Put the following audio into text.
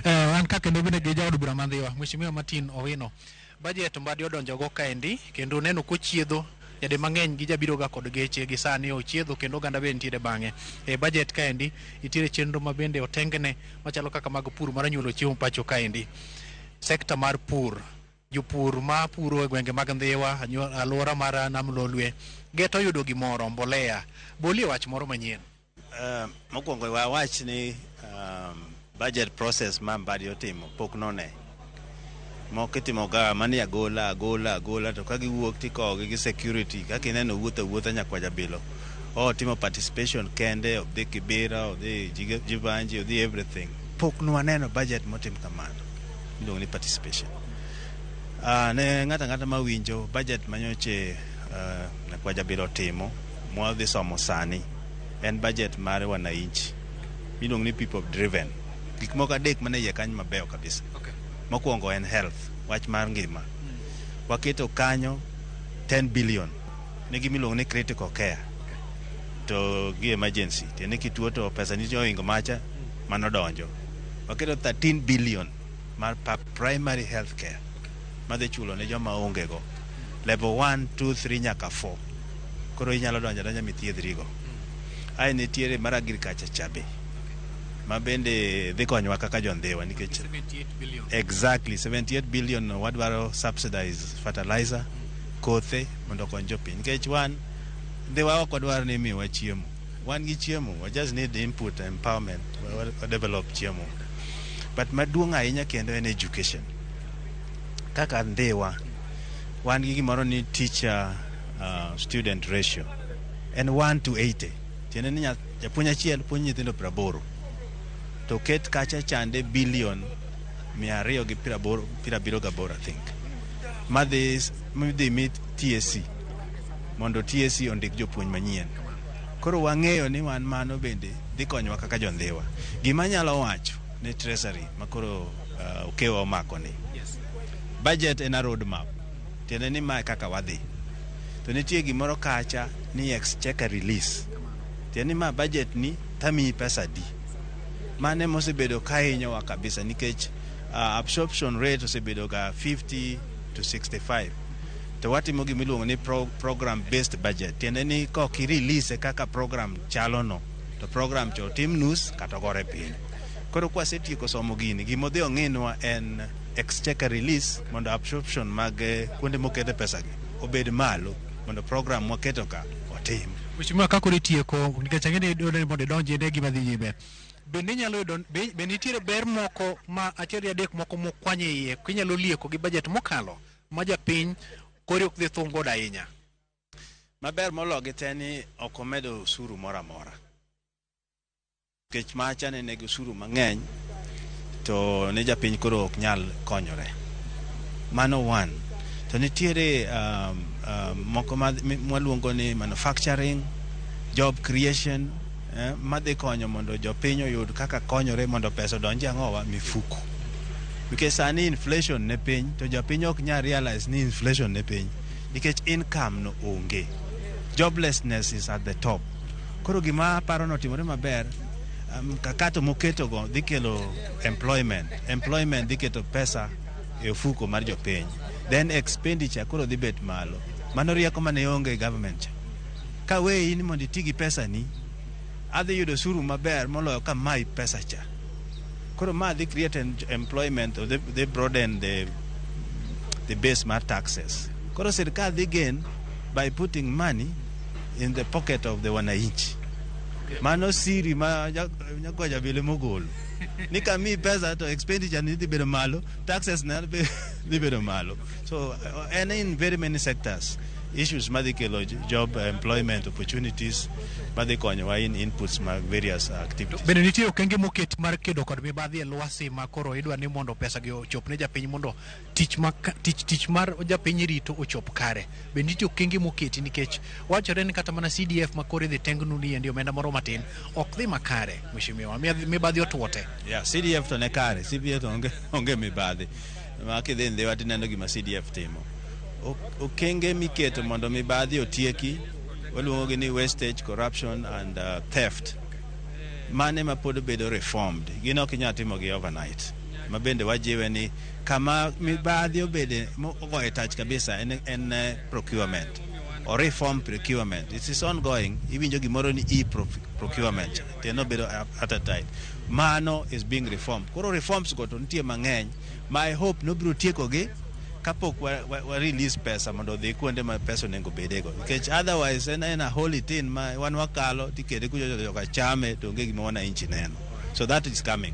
Eh, wan ka kendo bende gi jaod bura mandhiwa Mheshimiwa Martin Owino. Budget mbadi odonjo go kaendi kendo neno kochiedho jade mang'eny gi jabiro ga kod geche gi sani ochiedho kendo oganda bende nitiere bang'e. E budget kaendi nitiere chenro ma bende otengne machalo kaka mag pur mar nyuolo chiemo pacho kaendi. Sekta mar pur jopur ma puro e gwenge mag Ndhiwa, anyo- alwora mar Nam Lolwe, geto yudo gimoro mbolea. Bolie wach moro manyien. Uh, mokwongo wawach ni um, budget process ma Mbadi otimo pok none moko itimoga mani agola agola agola to ka giwuok tikowogi gi security kaka ineno wuotho wuotha nyakwa jabilo o timo participation kende odhi kibira odhi Jiga- jivanji odhi everything pok nwaneno budget motim kamano iluongo ni participation uh, ne ng'ato ang'ata mawinjo budget manyoche uh, nyakwa jabilo timo mwadhi somo sani en budget mar wananchi miluongo ni people driven gik moko adek mane iye kanyo mabeyo kabisa okay. mokwongo en health wach mar ngima mm. waketo kanyo 10 billion ne gimiluongo ni critical care to gi emergency tiende kituo to pesa nitie ohingo macha hmm. manodonjo waketo 13 billion mar Primary health care madhi chulo ne joma ongego level 1 2 3 nyaka 4 koro inyalo donjo donjo mithiedhrigo ae nitiere mar agriculture cha be ma bende dhi konyowa kaka jondhiwa nikech exactly 78 billion wadwaro subsidize fertilizer kothe mondo okony jopiny nikech wan dhiwa ok wadwar ni imiwa chiemo Wan gi chiemo, we just need input empowerment, we develop chiemo. But maduong' ahinya kendo en education. Kaka Ndhiwa, wan gi gimoro ni teacher uh, student ratio en 1 to 80 tiende ni japuonj achiel puonj nyithindo piero aboro to ket kacha chande bilion mia ariyo gi piero abiro gaboro i think madhi mi TSC mondo TSC ondik jopuonj manyien Koro wang'eyo ni wan mano bende dhi konyowa kaka jondhiwa. Gima anyalo wacho ne Treasury ma koro uh, Okewa omako ni. Budget en a road map. Tiende ni mae kaka wadhi. To nitie gimoro kacha ni exchequer release. Tiende ni ma budget ni tamiyi pesa adi. Mano ema osebedo ka hinyowa kabisa nikech uh, absorption rate osebedo ga 50 to 65. to watimo gima iluongo ni pro, program based budget tiende ni kok irelease kaka program chalono to program cho tim nus kata ogore piny koro kwasetieko somo gini gima odhi ong'inwa en exchequer release mondo absorption mag eh, kuonde mokete pesagi obed malo mondo program mwaketo ka otim Mheshimiwa ka koro itieko nikech ang'e ni dwaro ni mondo idonji ne gima dhi nyime. Bende inyalo yudo be be nitiere ber moko ma achiel gi adek moko mokwany e iye kinyalo lieko gi bajet mokalo ma japiny kori ok dhi thung' godo ahinya. Maber mologi te ni ok omedo usuru moro amora. Nikech macha ne negi usuru mang'eny to ne japiny koro ok nyal konyore. Mano one. To nitiere um, um, moko ma- mi- mwaluongo ni manufacturing, job creation, eh, madhi konyo mondo jopiny oyud kaka konyore mondo pesa odonje ang'owa mifuku nikech sani inflation ne piny to jopiny ok nyal realize ni inflation ne piny nikech income no onge joblessness is at the top koro gima aparo notimore maber mkakato um, moketogo dhi kelo employment employment dhi keto pesa e ofuko mar jopiny then expenditure koro dhi bet malo mano rieko mane onge government Ka weyi ni mondo iti gi pesani, adhi yudo osuru maber moloyo ka mayi pesa cha. Koro ma dhi create en- employment or they, they broaden the, the base mar taxes. Koro sirkal dhi gain by putting money in the pocket of the wananchi. Mano siri ma nya- nyakwaja bile mogolo. Ni ka mi pesa to expenditure ni dhi bedo malo, taxes na be- dhi bedo malo. So uh, and in very many sectors. Issues madhi kelo job employment opportunities madhi konyowa in inputs mag various activities. Bende nitie okenge moket mar kedo kod mibadhi e lwasi ma koro idwa ni mondo pesa gi ochop ne japiny mondo tich ma tich tich mar japiny rito ochop kare. Bende nitie okenge moketi nikech wachore ni kata mana CDF ma koro idhi tengnu ni endi omenda moro matin ok dhi makare mheshimiwa mibadhi otwote. Yeah, CDF to ne kare, CDF to onge, onge mibadhi. ma kidhi ndhiwa tineno gima CDF timo. Ok- Okenge miketo mondo mibadhi otieki waluongogi ni wastage, corruption and uh, theft. Mane ma pod bedo reformed. Gin ok inyal timogi overnight. Ma bende wajiwe ni kama mibadhi obede mogoye tach kabisa en, en eh, procurement or reform procurement. It is ongoing. Iwinjo gimoro ni e-procurement. Tiende obedo at a time. Mano is being reformed. Koro reforms go to nitie mang'eny My hope nobiro tiekogi kapok wa, wa, wa release pesa mondo odhi kuonde ma pesa onego bedego nikech otherwise en en a holy thing ma wan wakalo tikete kujojoka chame to onge gima wananchi neno so that is coming